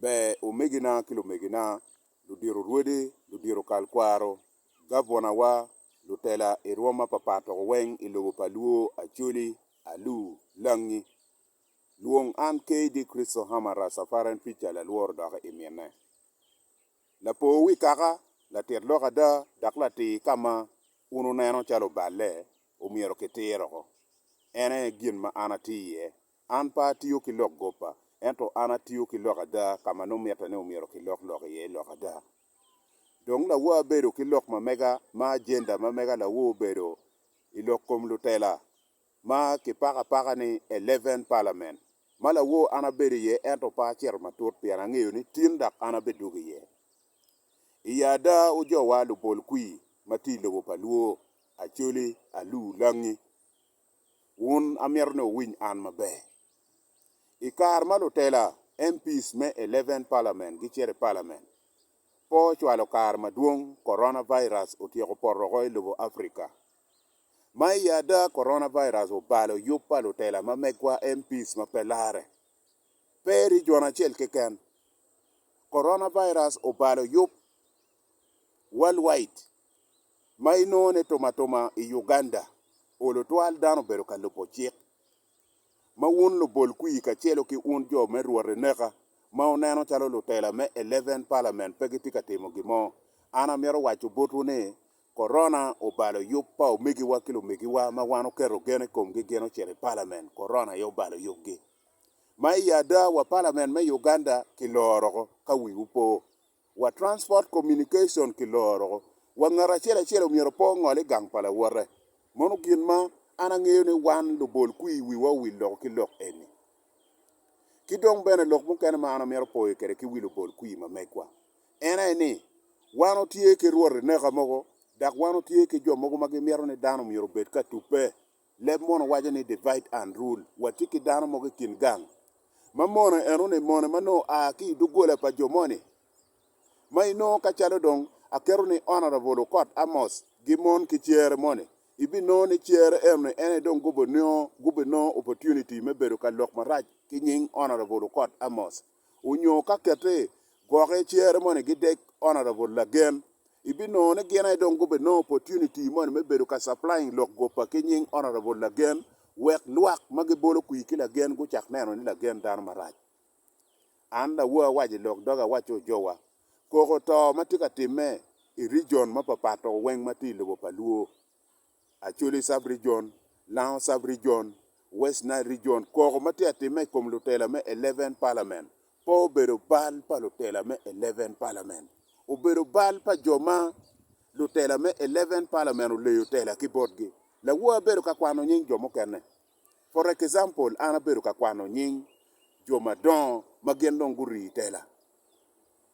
Ber omegina ki lumegina, ludito rwodi, ludito kal kwaro, gavwanawa, lutela i rwom mapapat dok weng i lobo pa Luo, Acholi, Alu, Langi. Lwong an KD Christo Hammer Rastafarian Preacher Lalworo dok i mine. Lapor wi kaka, latit lok ada, dok latir ka ma wun wuneno calo oballe, omyero kitiro oko. En aye gin ma an atye iye. An pe atiyo ki lok gobba, ento an atiyo ki lok ada ka ma nongo mitte ni omyero kilok lok iye i lok ada. Dong lawo abedo ki lok ma mega, ma ajenda ma mega lawo obedo i lok kom lutela ma kipako apaka ni Eleven Parliament, ma lawo an abedo iye ento pe acito matut pien angeyo ni tin dok an abidwogo iye. Iye ada wujowa lubol kwir ma tye i lobo pa Luo, Acholi, Alu, Langi. Wun amito ni wuwiny an maber. I kare ma lutela, MPs, me Eleventh Parliament gicito i Parliament, po ocwalo kare madwong Coronavirus otyeko poto woko i lobo Africa. Ma i ada, Coronavirus obalo yub pa lutela ma megwa, MPs, ma pe larre. Pe i region acel keken. Coronavirus obalo yub worldwide. ma inongone tumatuma i Uganda, olo twal dano bedo ka lubo cik, ma wun lubol kwir kacelo ki un jo me rwot eneka, ma wuneno calo lutela me Eleven Parliament pe gitye ka timo gin mo. An amito waco botwu ni, Corona obalo yub pa omegiwa ki lumegiwa ma wan wuketo gen i komgi gin ocito i Parliament, Corona aye obalo yubgi. Ma i ada wa Parliament me Uganda kiloro oko, ka wiwu po, wa transport communication ki loro wa ngat acel acel omyero pe ongol igang pa lawote mono gin ma an angeyo ni wan lubol kwir wiwa owil lok ki lok eni ki dong bene lok mukene ma an amito poyo kwede ki wi lubol kwir ma megwa en aye ni wan watye ki rwot ineka mogo dok wan watye ki jo mogo ma gimito ni dano myero obed ka tube. Leb mono waco ni divide and rule. Watye ki dano mogo i kin gang ma mone enoni mone ma nongo oa ki i doggola pa jo moni ma inongo ka calo dong aketo ni Honourable Okot Amos gimon ki cere moni ibinongo ni cere enoni en aye dong gubinongo opportunity me bedo ka lok marac ki nying Honourable Okot Amos. onyo ka kete gwoke icere moni gidek honourable lagen, ibinongo ni gin aye dong gubinongo opportunity moni me bedo ka supplying lok gopa ki nying honourable lagen wek lwak ma gibolo kwir ki lagen gucak neno ni lagen dano marac. An lawor awaco ilok doga awaco ojowa koko to matye ka timme i region mapapat to weng matye ilobo pa luo. Acholi Sub Region, Lango Sub Region, West Nile Region, Koko ma tye atimme i kom lutela me Eleven Parliament pe obedo bal pa lutela me Eleven Parliament. Obedo bal pa jo ma lutela me Eleven Parliament oleyo tela ki botgi. Lawowa abedo ka kwano nying jo mukene. For example, an abedo ka kwano nying jo madongo ma gin dong gurii tela.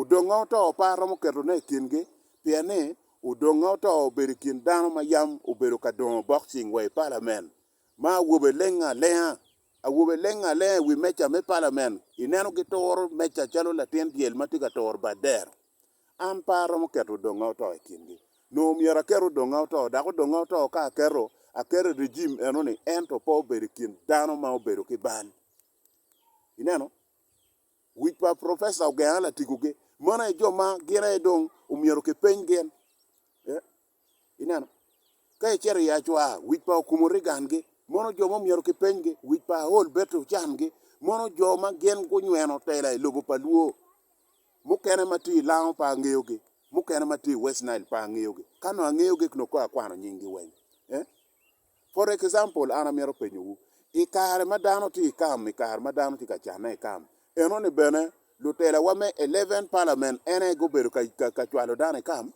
Odonga oto pe aromo ketone i kingi, pien ni odonga oto obedo i kin dano ma yam obedo ka dongo bokcing wa i palamen, ma awobe elenge alenga, awobe elenge alenga i wi meja me palamen. Ineno gituro meja calo latin dyel ma tye ka turo bad dero. An pe aromo keto odonga oto i kingi. Nongo myero aket odonga oto, dok odonga oto ka aketo, aketo i rejim eno-ni, ento pe obedo i kin dano ma obedo ki bal. Ineno? Wic pa Professor Ogea Latigo ge. Mano aye jo ma gin aye dong omyero ki peny gin. Eh. Ineno? Ka icito i Acwar, wic pa Okumu Reagan ge. Mano jo ma omyero ki peny ge. Wic pa Aol Betty Ochan ge. Mano jo ma gin gunyweno tela i lobo pa Luo. Mukene ma tye i Lango pe angeyo ge. Mukene ma tye i West Nile pe angeyo ge. Ka nongo angeyo ge nongo kong akwano nying gi weng. Eh. For example, an amito penyowu, i kare ma dano tye i kam, i kare ma dano tye ka canne i kam, enoni bene lutelawa me Eleven Parliament en aye gubedo ka cwalo dano i kam?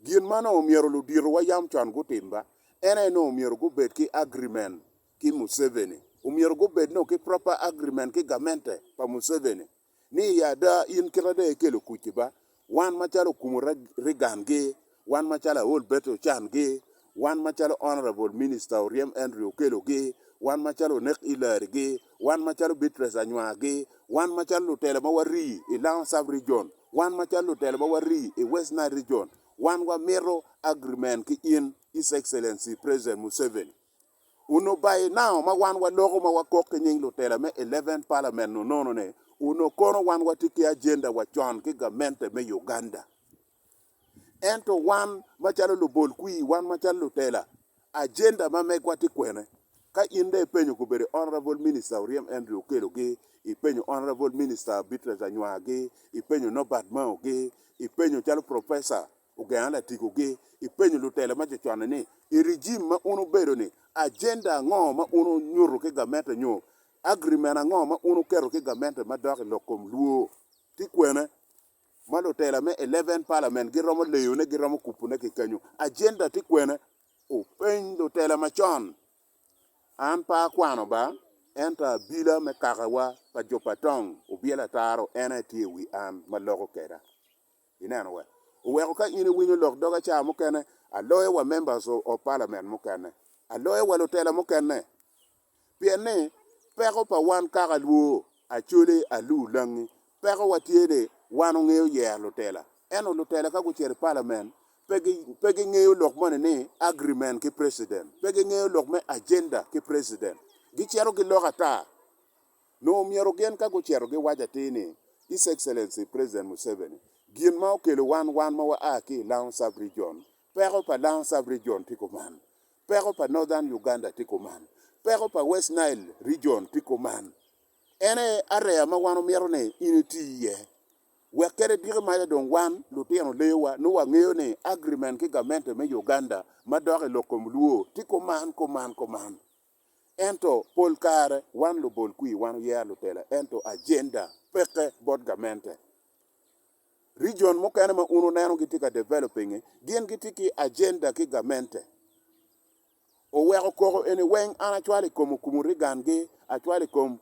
Gin ma nongo myero luditowa yam con gutim ba, en aye nongo myero gubed ki agreement ki Museveni, omyero gubed nongo ki proper agreement ki gamente pa Museveni. ni i ada in kit ada ikelo kuc ki ba wan macalo okumu Reagan gi, wan macalo aol Betty Ochan gi, wan macalo Honourable Minister Oryem Andrew Okello gi, wan macalo Onek Hillary gi, wan macalo Beatrice Anywa gi, wan macalo lutelo ma warii i Lango Sub Region, wan macalo lutelo ma warii i West Nile Region, wan wamito agreement ki in His Excellency President Museveni. Onongo baye nao ma wan waloko ma wakok ki nying lutela me Eleventh Parliament nonono ne, onongo kono wan watye ki agenda wa con ki gamente me Uganda. Ento wan macalo lubol kwir, wan macalo lutela, agenda ma megwa tye kwene? Ka in dong ipenyo kobedo Honourable Minister Oryem Andrew Okello gi, ipenyo Honourable Minister Beatrice Anywar gi, ipenyo Norbert Mao gi, ipenyo calo Professor Ogenga latikogi i penyo lutelo ma coconne ni, I rijim ma un wubedo-ni, ajenda ango ma un wunyuto ki gamente nyo agirimen ango ma un wuketo ki gamente madok i lok kom lwo? Ti kwene ma lutela me Eleven Parliament giromo leyone, giromo kubune ki kenyo? Ajenda ti kwene? Openy lutela macon. An pe akwano ba, ento abila me kakawa pa jo pa tong obyelo ataro en aye tye i wi an ma loko keda. Ineno we? Oweko ka in iwinyo lok dog aca mukene, aloyo wa members of parliament mukene, aloyo wa lutela mukene. Pien ni peko pa wan kaka Luo, Acholi, Alur, Langi, peko wa tye ni wan ongeyo yero lutela. Ento lutela ka gucito i parliament, pe gi, pe gi ngeyo lok moni ni agreement ki president, pe gi ngeyo lok me agenda ki president. Gicito giloko ata. Nongo myero gin ka gucito giwac atir ni, His Excellency President Museveni, gin ma okelo wan, wan ma wa a ki i Lamu Sub Region, peko pa Lamu Sub Region tye kuman, peko pa Northern Uganda tye kuman, peko pa West Nile Region tye kuman. En aye area ma wan omito ni in iti iye. Wek kede diki maca dong wan lutino lewa nongo wangeyo ni agreement ki gamente me Uganda ma dok i lok kom luo tye kuman, kuman, kuman. Ento pol kare wan lubol kwir wan oyea lutela ento agenda peke bot gamente. Region mukene ma un wuneno gitye ka developing-nge gin gitye ki agenda ki gamente. Oweko koko eni weng an acwalo i kom Okumu Reagan-gi, acwalo i kom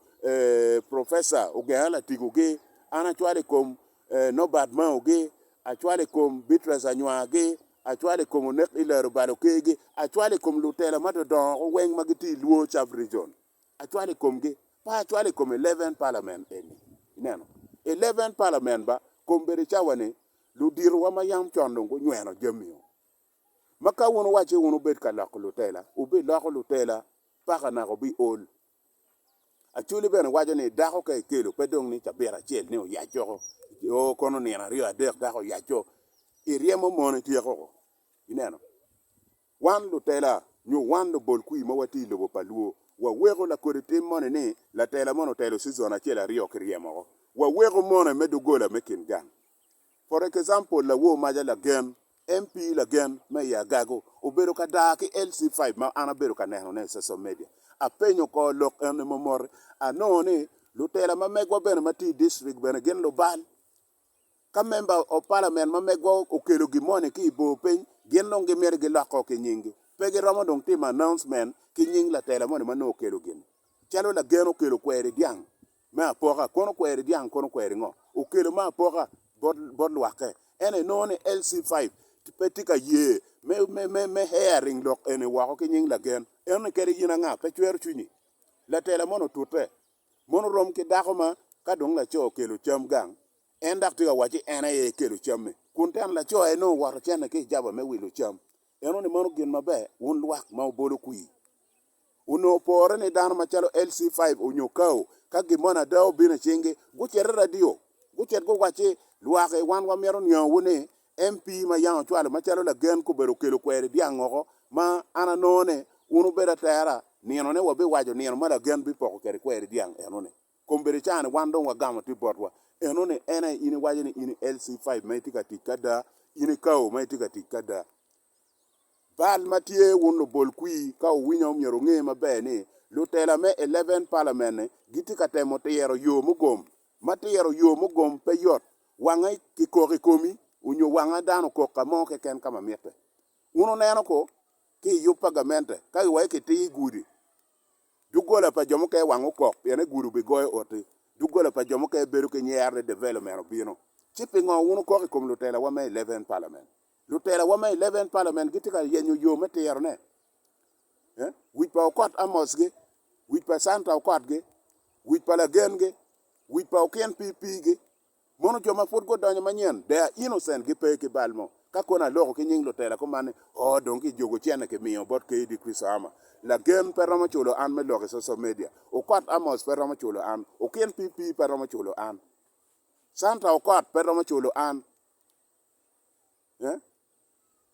Professor Ogenga Latigo-gi, an acwalo i kom Norbert Mao-gi, acwalo i kom Beatrice Anywar-gi, acwalo i kom onek i lero balo kergi, acwalo i kom lutela ma dodongo weng ma gitye i Luo Sub Region, acwalo i komgi, pe acwalo i kom Eleven Parliament eni. Ineno? Eleven Parliament ba, kombeddi cawa ni, luditowa ma yam con dong gunyweno jami-o. Ma ka wun wuwacce wun wubed ka loko lutela, wubiloko lutela paka naka wubiol, Acholi bene waco ni dako ka ekelo pe dong ni cabit acel ni oyac oko, oo kono nino aryo adek dako oyaco, iryemo mon ityeko ko, ineno. Wan lutela nyo wan lubol kwir ma watye i lobo pa Luo, waweko lakodi tim moni ni latela moni otelo cizon acel aryo kiryemo oko, waweko mone me doggola me kin gang. For example, Lawor maja lagen, MP lagen, me i Agago, obedo ka daa ki LC five ma an abedo ka neno ne i social media. Apenyo kor lok eni ma moti, anongo ni lutela ma megwa bene ma tye i district bene gin lubal. Ka member of parliament ma megwa okelo gin mo ni ki i bor piny, gin dong gi miti gi lok ko ki nying gi. Pe gi romo dong timo announcement ki nying latela moni ma nongo okelo gini. Calo lagen okelo kweri dyang. me apoka kono kweri dyang kono kweri ngo okelo me apoka bot lwakke ento inongo ni LC five pe tye ka ye me hearing lok eni woko ki nying lagen eno ni kadi in anga pe cwero cwinyi latela mono otute mono rom ki dako ma ka dong laco okelo cam gang en dok tye ka waco ni en aye ekelo cam ni kun teno laco aye nongo owoto cene ki ijaba me wilo cam eno ni mano gin maber wun lwak ma obolo kwir. onongo pore ni dano macalo LC5 onyo Kao ka gin moni ada obino i cingi, gucito i radio, gucit guwacci, Lwaki, wan wamito niangowu ni MP ma Yang ocwalo macalo lagen kobedo okelo kweri dyang ngoko ma an anongo ni wun wubedo atera nino ne wabiwaco nino ma lagen bipoko kwede kweri dyang enoni. Kombeddi cani wan dong wagamo tye botwa. Enoni en aye in iwaco ni in i LC5 ma itye ka tic ki ada, in i Kao ma itye ka tic ki ada. Bal ma tye wun lubol kwir ka wuwinyo myero wunge maber ni lutela me Eleven Parliament-ni gitye ka temo tiro yo mugom. Ma tiro yo mugom pe yot. Wange kikok i komi onyo wange dano okok ka mo keken ka ma mitte. Wun wuneno ko ki i yub pa gamente ka giwaco kitir i gudi, doggola pa jo mukene wange okok pien ni gudi obigoyo oti. Doggola pa jo mukene bedo ki nyero ni development obino. Ci pingo wun wukok i kom lutelawa me Eleven Parliament? Lutelawa me Eleventh Parliament gitye ka yenyo yo me tirone. Wic pa okot Amos-gi, wic pa Santa okot-gi, wic pa lagen-gi, wic pa okin pii-pii-gi. Mono jo ma pud gudonyo manyen, they are innocent, gipe ki bal mo. Ka kono aloko ki nying lutela kuman ni, Oo, dong kijuko cente kimiyo bot KD Christo Ama. Lagen pe romo culo an me lok i social media. Okot Amos pe romo culo an. Okin pii-pii pe romo culo an. Santa okot pe romo culo an.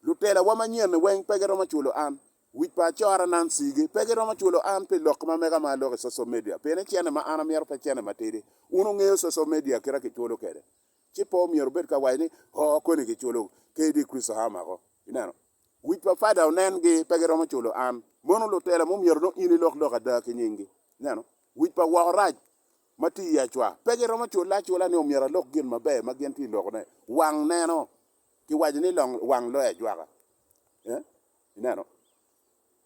Lutelawa manyen-ni weng pe giromo cwalo an. Wic pa acora Nancy-gi pe giromo cwalo an pi lok ma mega ma aloko i social media pien ni cene ma an amyero pe cene matidi. Wun wungeyo social media kite ma kicwalo kwede. Ci pe omyero wubed ka waco ni, 'Oo, koni kicwalo KD Kristo aa mako. Ineno? Wic pa Father onen-gi pe giromo cwalo an. Mono lutela mo myero nongo in ilok lok ada ki nying-gi. Ineno? Wic pa woko rac. ma tye i acwa pe giromo culle acula ni omyero alok gin maber ma gin tye lokone. Wang neno, kiwaco ni wang loyo ajwaka. Eh? Ineno?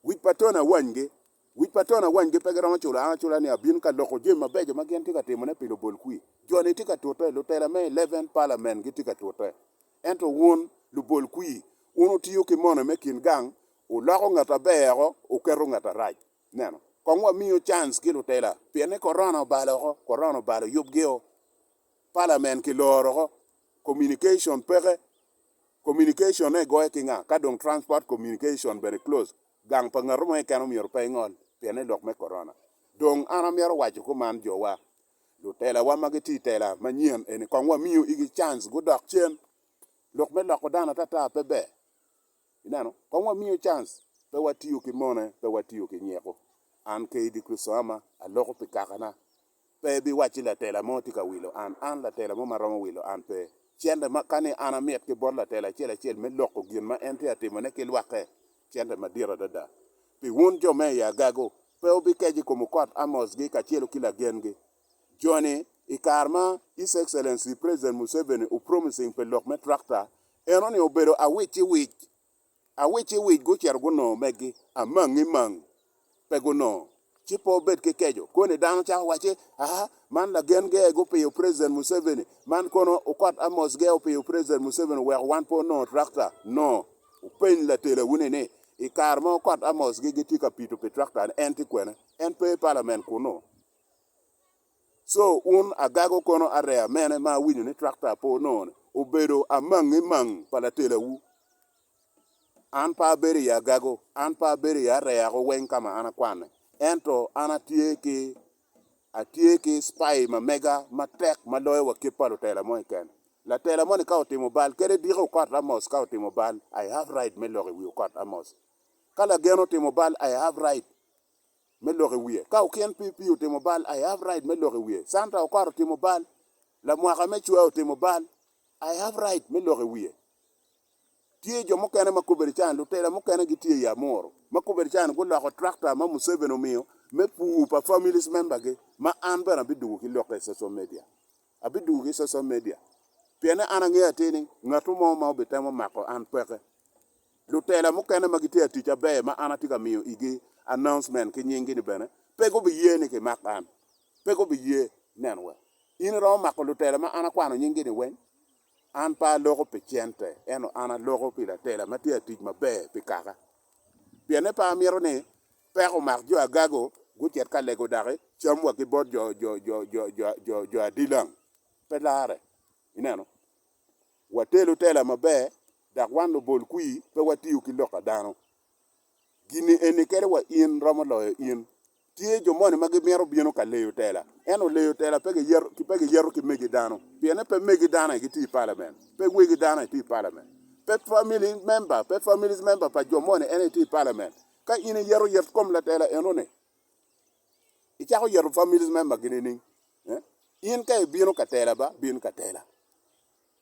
Wic pa tono awanygi. Wic pa tono awanygi pe giromo culo an acula ni abino ka loko jami mabeco ma gin tye ka timone pi lubol kwir. Joni tye ka tute, lutela me Eleven Parliament gitye ka tute. Ento wun, lubol kwir, wun wutiyo ki mone me kin gang, wuloko ngat aber-ro, wuketo ngat arac. Ineno? Kong wamiyo cans ki lutela, pien ni korona obalo oko, korona obalo yubgio, palamen kiloro oko, communication peke, communication ne igoyo ki nga, ka dong transport communication bene close, gang pa ngatu mo keken omyero pe ingol, pien ni lok me korona. Dong an amyero waco kuman, jowa, lutela wa ma gitye itela manyen eni kong wamiyo igi cans gudok cen, lok me loko dano atata pe ber, Ineno? Kong wamiyo cance, pe watiyo ki mone, pe watiyo ki nyeko. An kaydi Kricito ama, aloko pi kakana. Pe ibiwacci latela mo tye ka wilo an, an latela mo ma romo wilo an pe. Cente ma, ka ni an amit ki bot latela acel acel me loko gin ma en tye ka timone ki lwakke, cente madit adada. Pi wun jo me i agago, pe wubikec i kom okot Amos-gi kacelo ki lagen-gi, Joni, i kare ma His Excellency President Museveni o promising pi lok me tractor, eno ni obedo awicciwic. Awicciwic gucito gunongo megi, amangi mang pe gunongo. Ci pe obed ki keco, koni dano cako wacci, aa, man lagen ge gupiyo President Museveni, man kono okot Amos ge opiyo President Museveni oweko wan pe onongo tractor. No. Wupeny latelawuni ni, i kare ma okot Amos gi gitye ka pito pi tractor-ni, en tye kwene? En pe i Parliament kunu. Co un agago kono areya mene ma awinyo ni trakta pe onongo-ni? Obedo amangi mang pa latelawu. An pe abedo i agago, an pe abedo i areyako weng ka ma an akwanne. Ento an atye ki, atye ki cpai ma mega matek ma loyo wa kit pa lutela mo keken. Latela moni ka otimo bal, kadi diko okot Amos ka otimo bal, I have right me loko i wi okot Amos. Ka lagen otimo bal, I have right. me lok i wiye. Ka okin PP otimo bal, I have right me lok i wiye. Santa Okot otimo bal, lamwaka me cwea otimo bal, I have right me lok i wiye. Tye jo mukene ma kobedi can, lutela mukene gitye i Amuru ma kobedi can guloko tractor ma Museveni omiyo me pur pa families member gi ma an bene abidugu ki lokke i social media. Abidwogo ki social media pienne an angeyo atir ni ngat mo ma obitemo mako an peke. Lutela mukene ma gitye ka tic aber ma an atye ka miyo igi announcement ki nying gi ni bene pe gubiye ni kimak an. Pe gubiye. Nen wa. In iromo mako lutela ma an akwano nying gi ni weng? An pe aloko pi cente ento an aloko pi latela ma tye ka tic maber pi kaka. Pienne pe amito ni Peko omako jo agago, gucit ka lego daki cam wa ki bot jo adilang. Pe larre. Ineno? Watelo tela maber, dok wan lubol kwir, pe watiyo ki lok a dano. Gin-ni eni kelo wa in romo loyo in. Tye jo moni ma gimito bino ka leyo tela, ento leyo tela pe giyeto ki megi dano, pien ni pe megi dano aye gitye i palament, pe wegi dano aye tye i palament, pe family member, pe families member pa jo moni en aye tye i palament. Ka in iyeto yet kom latela enoni, icako yeto families membergi nining? In ka ibino ka tela ba, bin ka tela.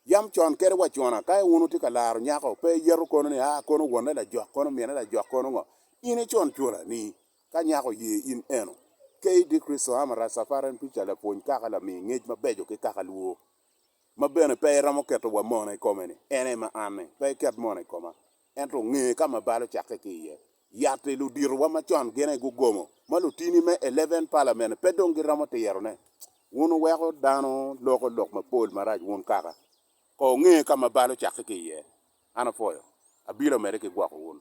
Yam con kede wa cona, ka wun wutye ka laro nyako, pe iyeto kono ni, aa, kono wonne lajok, kono mine lajok, kono ngo. In icun cula ni, ka nyako oye in eno, KD. Kristo Hammer Rastafari en pica lapwony kaka lami ngec mabeco ki kaka lwo. Ma bene pe iromo keto wa mona i kome ni, en aye ma anni, pe iket mona i koma. ento onge ka ma bal ocakke ki iye. Yatti luditowa ma con gin aye gugomo, ma lutini me Eleven Parliament pe dong giromo tirone. Wun wuweko dano loko lok mapol marac wun kaka. Ko onge ka ma bal ocakke ki iye. An apwoyo. Abilo medde ki gwoko wun.